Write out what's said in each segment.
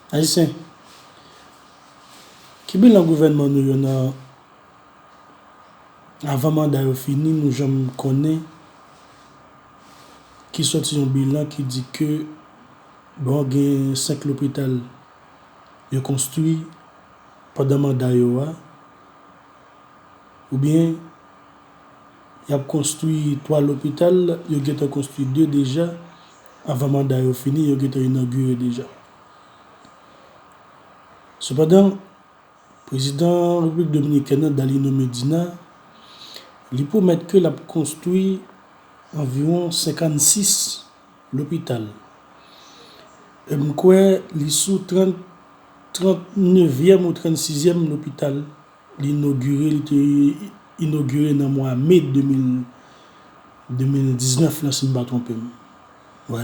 Ayisyen, ki bilan gouvènman nou yo nan avan manda yo fini nou janm konnen ki soti yon bilan ki di ke bon gen 5 lopital yo konstwi pandan manda yo a oubyen Y ap konstwi 3 lopital, yo gentan konstwi 2 deja, avan manda yo fini, yo gentan inogire deja. Sepandan, prezidan Repiblik Dominikèn nan, Dalino Medina, li pwomèt ke l ap konstwi anviwon 56 lopital. E m kwè li sou 30, 39 yèm ou 36 yèm lopital Li inogire, li te inogire nan mwa me 2019 la si m pa twonpe m. Wè.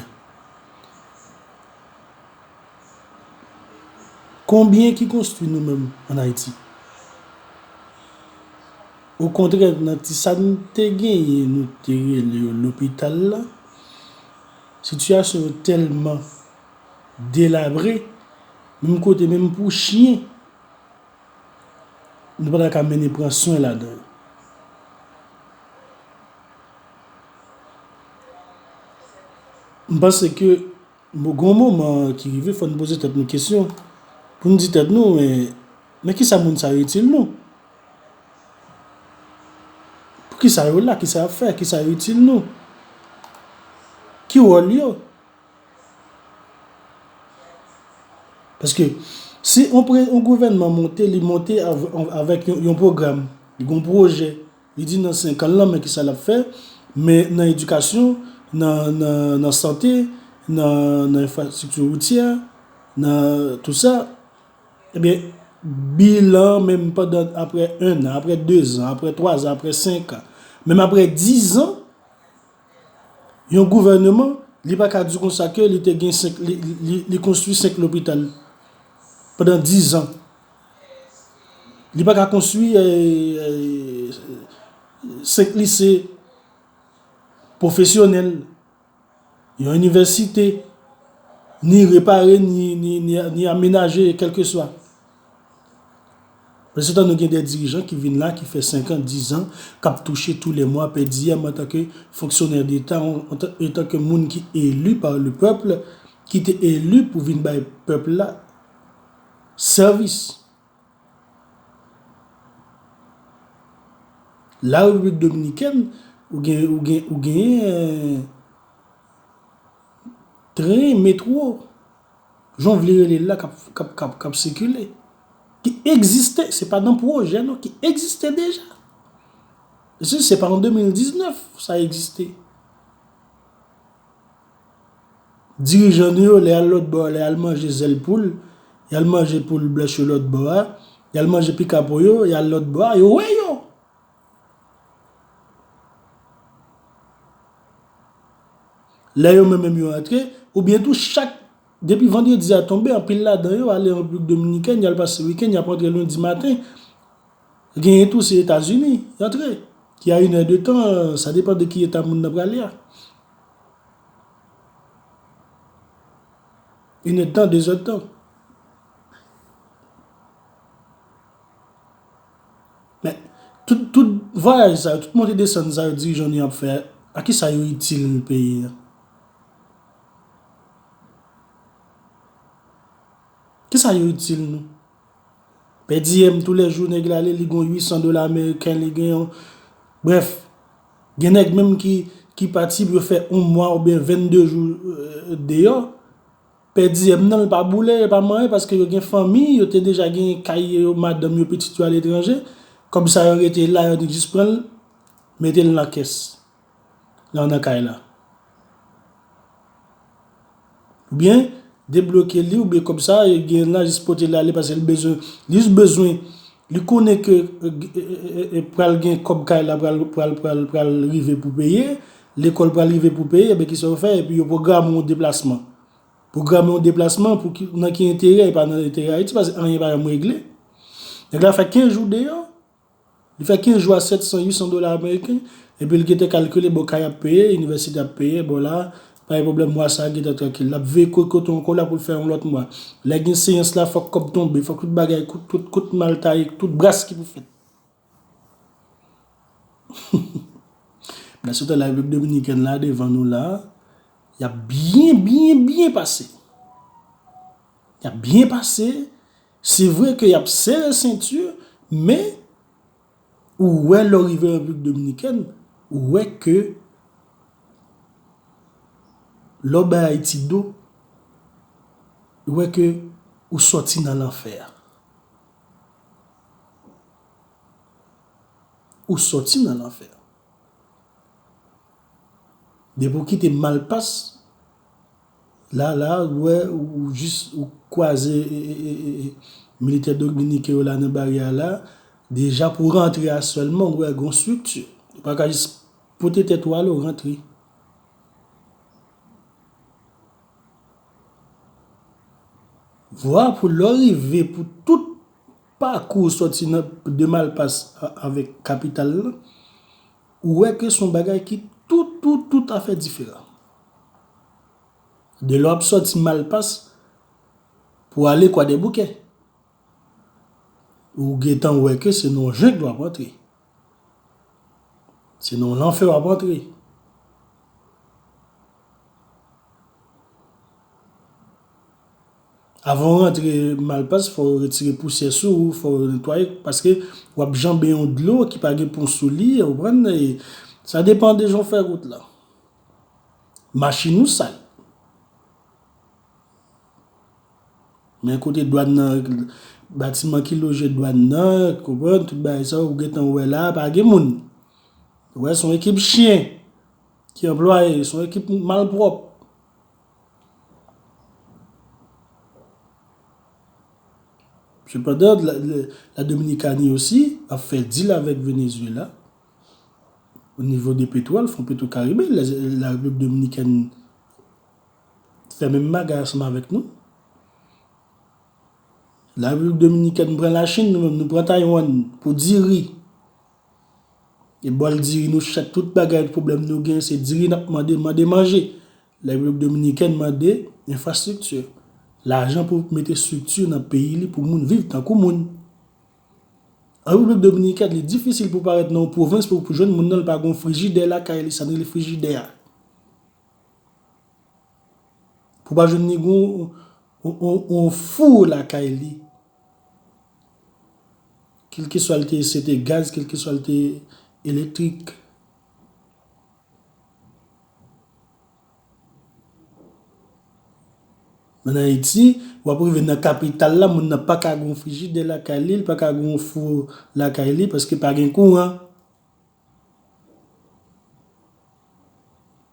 Konbyen ki konstwi nou menm an Ayiti? Okontrè nan ti sa n te genyen nou te rele yo lopital la, sitiyasyon yo tèlman delabre, menm kote menm pou chyen. Nou pa ta ka mennen pran swen ladan yo. M panse ke bon gen yon moman ki rive fò n poze tèt nou kesyon pou n di tèt nou men men ki sa moun sa yo itil nou? Pou ki sa yo la? Ki sa y ap fè? Ki sa yo itil nou? Ki wòl yo? Paske, si yon gouvènman monte, li monte avèk yon pwogram, li gon pwojè, li di nan 5 an lan men ki sa l ap fè, men nan edikasyon, nan sante, nan enfrastrikti woutyè, nan tout sa, ebyen, bilan men m pandan apre 1 an, apre 2 an, apre 3 an, apre 5 an, men m apre 10 an, Yon gouvèneman, li pa ka di konsa ke li te gen 5, li konstwi 5 lopital pandan 10 an. Li pa ka konstwi 5 lise pwofesyonèl, yon inivèsite, ni repare, ni amenaje, kelkeswa. Pèsontan nou gen de dirijan ki vin la ki fè 5 an, 10 an, k ap touche tou lè mwa pèdiyèm antanke fonksyonè deta, antanke moun ki eli pa le pèp, ki te eli pou vin bay pèp la sèvis. La Repiblik Dominikèn, ou genyen tren, metwo. Jan w vle rele l la k ap sikile, ki egziste, se pa nan pwojè non, ki egziste deja. Si se pa an 2019 sa egziste. Dirijan nou yo lè y al lòtbò, lè y al manje zèl poul, y al manje poul blanch yo lòtbò a, y al manje pika po yo, y al lòtbò a, yo wè yo. Lè yo men menm yo antre, oubyen tou chak depi vandredi a tonbe anpil ladan yo ale Repiblik Dominikèn, y al pase wikenn, y ap antre lendi maten. Genyen tou se Etazini y antre, ki a inè de tan, sa depan de ki eta moun nan prale a. Inè de tan, dezè de tan. Men, tout vwayaj sa yo, tout monte desann sa yo dirijan nou yo ap fè, a ki sa yo itil peyi a? Ki sa yo itil nou? Pè DM tou lè jou nèg la ale li gon 800 dola ameriken li gen yon, brèf, gen nèg menm ki pati pou yo fè yon mwa ou byen 22 jou deyò. Pè diyèm nan l pa boule, e pa manyen paske yo gen fanmi, yo te deja gen kay yo, madanm yo, pitit yo aletranje. Kòb sa yo rete la, yo jis pran l, mete l nan kès la nan kay la. Oubyen, debloke li oubyen kòb sa yo gen la jis pote l ale paske l bezwen, li jis bezwen, li konnen ke pral gen kòb kay la pral rive pou peye, Lekòl pral rive pou peye, ebyen kisa yo fè? Epi yo pwograme yon deplasman. Pwograme yon deplasman pou ki, nan ki enterè? E pa nan enterè Ayiti paske anyen pa janm regle. Nèg la fè 15 jou deyò, li fè 15 jou a 700, 800 dola ameriken, epi li gentan kalkile bon kay ap peye, inivèsite ap peye, bon la, pa gen pwoblèm mwa sa a gentan trankil. L ap veye kot kote ankò la pou l fè yon lòt mwa. Lè gen seyans la fòk kòb tonbe, fòk tout bagay, tout kout mal taye, tout bras ki pou fèt. Mwen swete la Repiblik Dominikèn la devan nou la, y ap byen, byen, byen pase. Y ap byen pase, se vre ke y ap sere senti, men, ou wè lè w rive Repiblik Dominikèn, ou wè ke lè w bay Ayiti do, ou wè ke ou soti nan lanfè a. Ou soti nan lanfè. Depi ou kite malpas, la la ou wè ou jis ou kwaze militè dominiken yo la nan baryè a la, deja pou rantre a sèlman ou wè gon strikti. Ou pa ka jis pote tèt ou ale ou rantre. Vwa pou lè ou rive pou tout Pakou sòti nan de Malpas avèk kapital lan, ou wè ke son bagay ki tout tout tout afè diferan. Delè w ap sòti Malpas pou ale Kwadèboukè, ou gentan wè ke se nan yon jengl w ap antre. Se nan yon lanfè wap antre. Avan ou rantre malpas fò yo retire pousyè sou ou, fò yo netwaye paske wap janbe yon dlo ki pa gen pon sou li, ou konprann? Sa depan de jan w fè wout la. Machin ou sal. Men kote dwàn nan, batiman ki loje dwàn nan, konprann, tout bagay sa yo, ou gen tan wè la, pa gen moun. Ou wè, son ekip chyen ki anplwaye, son ekip malpwòp. Sepandan, la Dominikani osi ap fè dil avèk Venezuela o nivo de petwòl, fon petwokaribe, la Repiblik Dominikèn. fè menm bagay ansanm avèk nou. La Repiblik Dominikèn pran la Chin, nou menm nou pran Taywann pou diri. E bòl diri nou chak tout bagay pwoblèm nou gen se diri n ap mande, mande manje. La Repiblik Dominikèn mande enfrastrikti, lajan pou mete estrikti nan peyi li pou moun viv tankou moun. An Repiblik Dominikèn li difisil pou parèt nan yon pwovens pou jwenn moun nan li pa gen yon frijidè lakay li, sa n rele frijidè a. Pou pa jwenn ni gon yon four lakay li. Kelke swa li te se te gaz, kelke swa li te elektrik. An Ayiti, w ap rive nan kapital la, moun nan pa ka gen yon frijidè lakay li, li pa ka gen yon four lakay li paske pa gen kouran.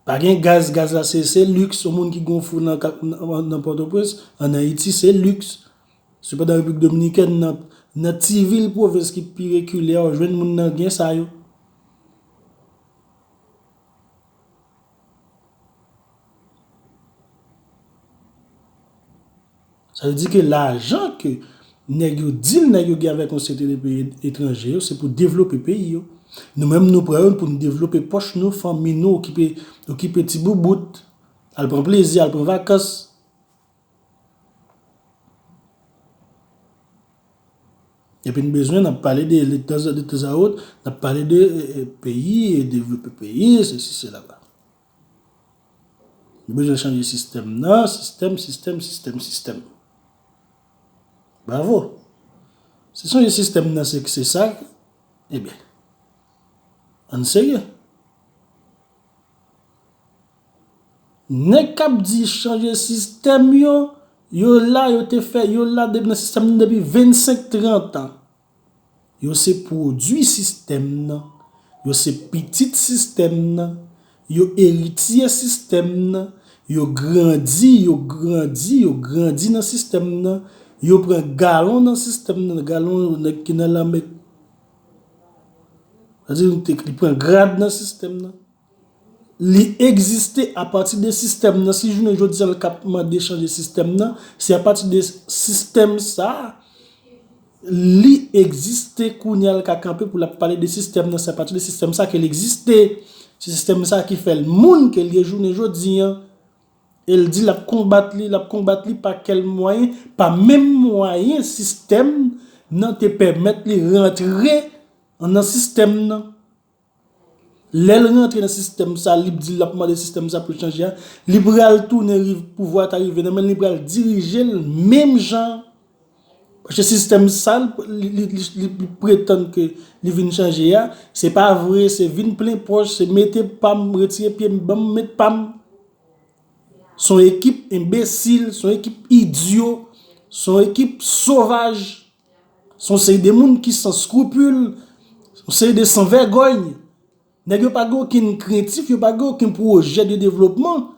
Pa gen gaz, gaz la se se liks, yon moun ki gen yon fou nan Pòtoprens, an Ayiti se liks. Sepandan Repiblik Dominikèn nan ti vil pwovens ki pi rekile a ou jwenn moun nan gen sa yo. Sa vle di ke lajan ke nèg yo dil nèg yo gen avèk yon seri de peyi etranje yo se pou devlope peyi yo. Nou menm nou pran yo pou nou devlope pòch nou, fanmi nou, okipe ti boubout, al pran plezi, al pran vakans. Epi n bezwen n ap pale de tanzawot, n ap pale de peyi, devlope peyi, se si se la la. Nou bezwen chanje sistèm nan, sistèm, sistèm, sistèm, sistèm. Bravo. Si chanje sistèm nan se ki se sa, e byen, an n serye. Nèg kap di chanje sistèm yo, yo la yo te fè yo la depi nan sistèm nan depi 25 30 ans. Yo se pwodwi sistèm nan, yo se pitit sistèm nan, yo eritye sistèm nan, yo grandi yo grandi yo grandi nan sistèm nan, yo pran galon nan sistèm nan galon nèg ki nan lame sa vle di li pran grad nan sistèm nan. Li egziste apati de sistèm nan, si jounen jodi an l ka mande chanje sistèm nan, se apati de sistèm sa a li egziste kounye a l ka kanpe pou l ap pale de sistèm nan, se apati de sistèm sa a ke l egziste, se sistèm sa a ki fè l moun ke l ye jounen jodi an, e l di l ap konbat li, l ap konbat li pa kèl mwayen, pa menm mwayen sistèm nan te pèmèt li rantre nan sistèm nan. Lè l rantre nan sistèm sa li p di l ap mande sistèm sa pou l chanje a, li pral tounen rive pouvwa a ta rive nan men l li pral dirije l menm jan paske sistèm sa li pretann ke li vin chanje a se pa vre se vin plen pòch se mete pa m retire pye m ban m met pa m s on ekip enbesil s on ekip idyo s on ekip sovaj Se yon seri de moun ki san skrupul, yon seri de san vègòy. Nèg yo pa gen okenn krentif, yo pa gen okenn pwojè de devlopman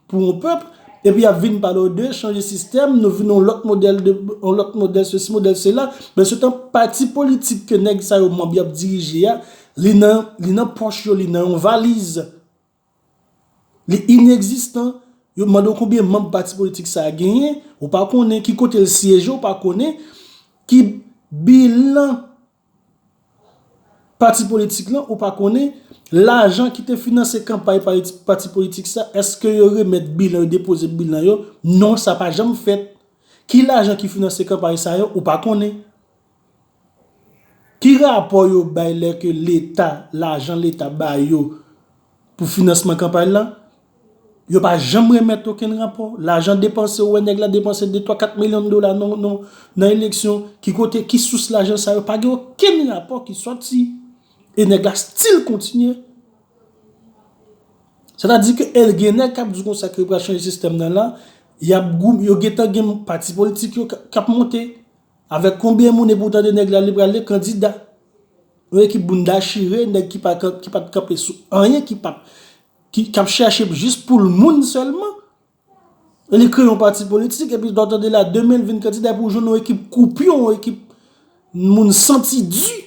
pou yon pèp. Epi yap vin pale w de chanje sistèm, nou vin yon lòt modèl de, yon lòt modèl se si, modèl se la. Pèn se tan pati politik ke nèg sa yo manb yap dirije a, li nan, li nan pòch yo, li nan yon valiz. Li inegzistan, yo mande w konbyen manb pati politik sa genyen, ou pa konnen, ki kote l syeje ou pa konnen, ki bilan pati politik lan ou pa konnen, lajan ki te finanse kanpay pati politik sa, eske yo remet bilan, yo depoze bilan yo, non sa pa janm fèt. Ki lajan ki finanse kanpay sa yo ou pa konnen. Ki rapò yo bay lè ke leta, lajan leta ba yo pou finansman kanpay la, yo pa janm remèt okenn rapò. Lajan depanse, ou wè nèg la depanse 2, 3, 4 milyon dola nan eleksyon, ki kote, ki sous lajan sa yo, pa gen okenn rapò ki sòti. E nèg la stil kontinye. Sè ta di ke el gen nèg kap di kon sa ke yo pral chanje sistèm nan la, yo gen tan gen pati politik yo kap monte. Avek konbyen moun epi ou tande neg la li pral de kandida. Yon ekip bounda chire neg ki pat kanpe sou anyen ki pat ki kap chache jis poul moun selman. Li kreye yon pati politik epi ou tande la demen li vin kandida epi ou jwenn yon ekip koupyon yon ekip moun santi di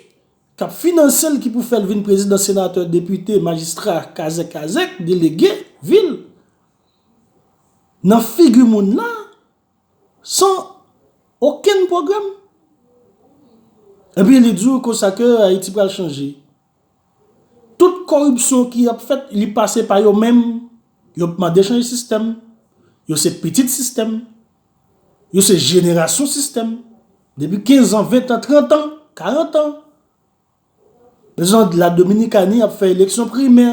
kap finansel ki pou fel vin prezidan senatè depite majistra kazek kazek delege vil. Nan figi moun la San okenn pwogram? Epi li di w konsa ke Ayiti pral chanje. Tout koripsyon ki ap fèt li pase pa yo menm, yo p mande chanje sistèm, yo se pitit sistèm, yo se jenerasyon sistèm, depi 15 an, 20 an, 30 an, 40 an. Jan La Dominikani ap fè eleksyon primè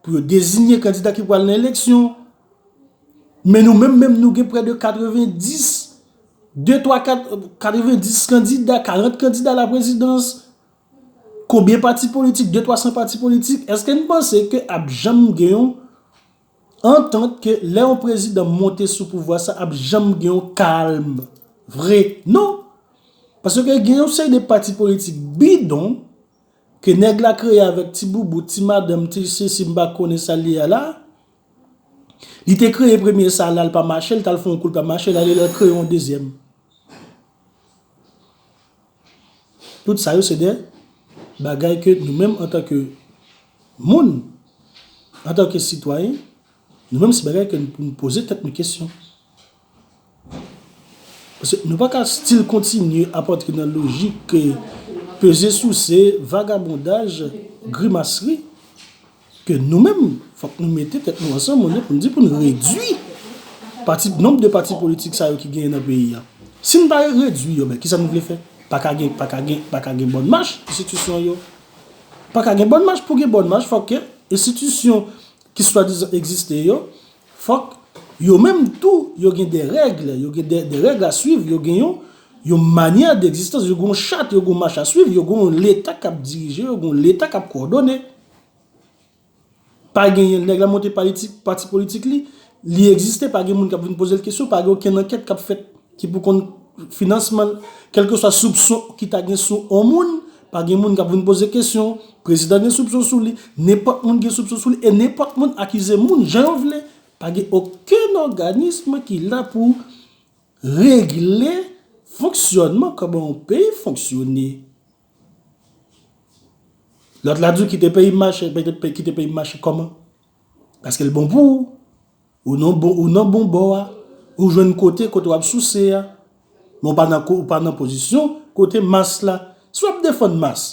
pou yo dezinye kandida ki pral nan eleksyon. Men nou menm menm nou gen prè de 90, de twa kat, 90 kandida, 40 kandida a la prezidans. Konbyen pati politik, de twa san pati politik. Eske n panse ke ap janm gen yon? Antant ke lè yon prezidan monte sou pouvwa sa ap janm gen yon kalm vre non. Paske gen yon seri de pati politik bidon ke nèg la kreye avèk ti boubout, ti madanm, ti sesi m pa konnen sa li ye la. Li te kreye premye sa la li pa mache li tal fè yon kou li pa mache la li al kreye yon dezyèm. Tout sa yo se de bagay ke nou menm antan ke moun, antan ke sitwayen, nou menm se bagay ke nou pou nou poze tèt nou kesyon. Paske nou pa ka stil kontinye ap antre nan lojik ke peze souse, vagabondaj, grimasri, Ke nou menm, fòk nou mete tèt nou ansanm olye pou n di pou n redui pati, nonb de pati politik sa yo ki genyen nan peyi a. Si n pa redui yo, men kisa nou vle fè? Pa ka gen, pa ka gen, pa ka gen bòn mach enstitisyon yo. Pa ka gen bòn mach, pou gen bòn mach fòk ke enstitisyon ki swadizan egziste yo, fòk yo menm tou yo gen de règle, yo gen de règle a swiv, yo gen yon, yon manyè degzistans, yo gen yon chat, yo gen yon mach a swiv, yo gen yon leta k ap dirije yo, gen yon leta k ap kòdone. Pa genyen, nèg la monte pati politik li, li egziste, pa gen moun k ap vin poze l kesyon, pa gen okenn ankèt k ap fèt ki pou konn finansman l. Kèlkeswa soupson ki ta gen sou yon moun, pa gen moun k ap vin poze kesyon. Prezidan gen soupson sou li, nenpòt moun gen soupson sou li, e nenpòt moun akize moun jan yo vle. Pa gen okenn òganism ki la pou regle fonksyònman kòman yon peyi fonksyone. Lòt la di w kite peyi m mache, kite peyi m mache kòman? Paske l bon pou ou, ou nan bon, ou nan bon bò a, ou jwenn kote kote w ap souse a, men w pa nan ko, w pa nan pozisyon kote mas la. Si w ap defann mas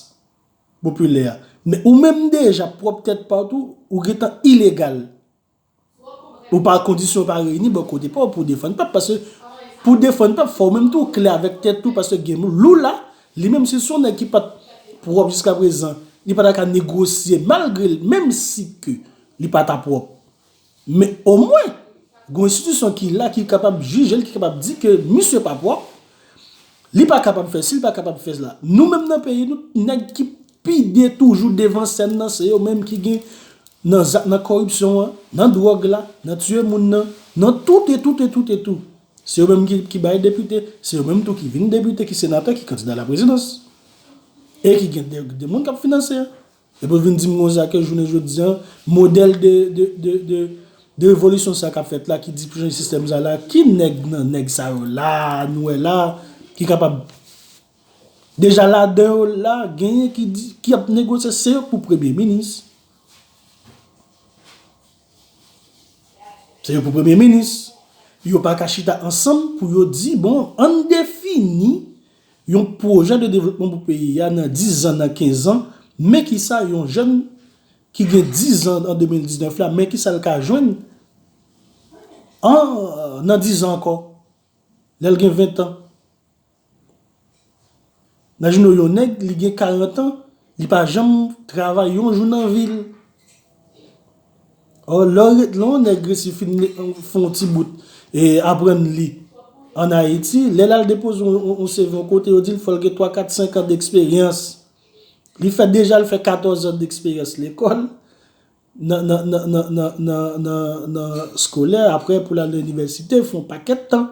popilè a, men ou menm deja pwòp tèt pa w tou, ou gen tan ilegal. Ou pa kondisyon pa reyini bò kote paw pou defann pèp paske pou defann pèp fòw menm tou klè avèk tèt ou paske gen Lula li menm se son nèg ki pat pwòp jiska prezan li pata ka negosye malgre l menm si ke li pata pwòp men omwen gon enstitisyon ki la ki kapab jijel ki kapab di ke misye pa pwòp li pa kapab fè si li pa kapab fè la nou menm nan peyi nou t nèg ki Pi de toujou devan sèn nan se yo menm ki gen nan zak nan koripsyon an, nan dwòg la, nan tiye moun nan, nan tout e tout e tout e tout. Se yo menm ki bay depite, se yo menm tou ki vin depite, ki senatè, ki kandida laprezidans. E ki gen de moun k ap finanse. Epi ou vin di m konsa ke jounen jodi an, modèl de revolisyon sa k ap fèt la ki di pou chanje sistèm sa la, ki nèg nan nèg sa yo la a nou wè la a ki kapab Deja ladan yo la genyen ki di ki ap negosye se yo k pou premye minis. Se yo pou premye minis. Yo pa ka chita ansanm pou yo di bon ann defini yon pwojè de devlopman pou peyi a nan 10 zan, nan 15 zan, men ki sa yon jèn ki gen 10 zan an 2019 la, men ki sa l ka jwenn an nan 10 zan ankò, lè l gen 20 an. Nan jounen yon nèg li gen 40 ans li pa janm travay yon jou nan vil. Or lè yon nèg resi fin fè yon ti bout e aprann li an Haiti lè lal depoze yon CV yon kote yo dil fòl gen 3, 4, 5 ans d'expérience. Li fè deja li fè 14 ans d'expérience lekòl. nan nan nan nan nan nan nan nan skolè aprè pou l al nan inivèsite fon pakèt tan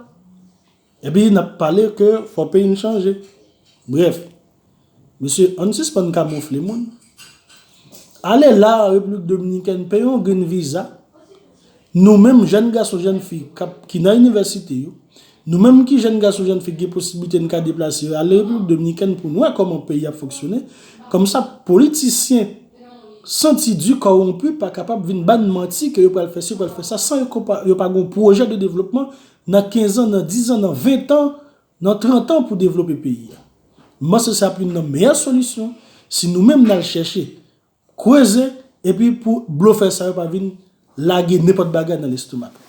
epi nap pale ke fò peyi n chanje brèf mesye ann sispann kamoufle moun ale la an repiblik dominikèn peye yon grenn viza Nou menm jèn gason jèn fi kap ki nan inivèsite yo, nou menm ki jèn gason jèn fi ki gen posiblite n ka deplase ale repiblik dominikèn pou n wè kòman peyi ap fonksyone, kòmsa politisyen santi di kowonpi pa kapab vin bann manti ke yo pral fè si yo pral fè sa san yo pa gon pwojè de devlopman nan kenzan nan dizan nan ventan nan trantan pou devlope peyi a. M panse se ap youn nan meyè solisyon si nou menm n al chèche Kreze epi pou blofè sa yo pa vin lage nenpòt bagay nan lestomak nou.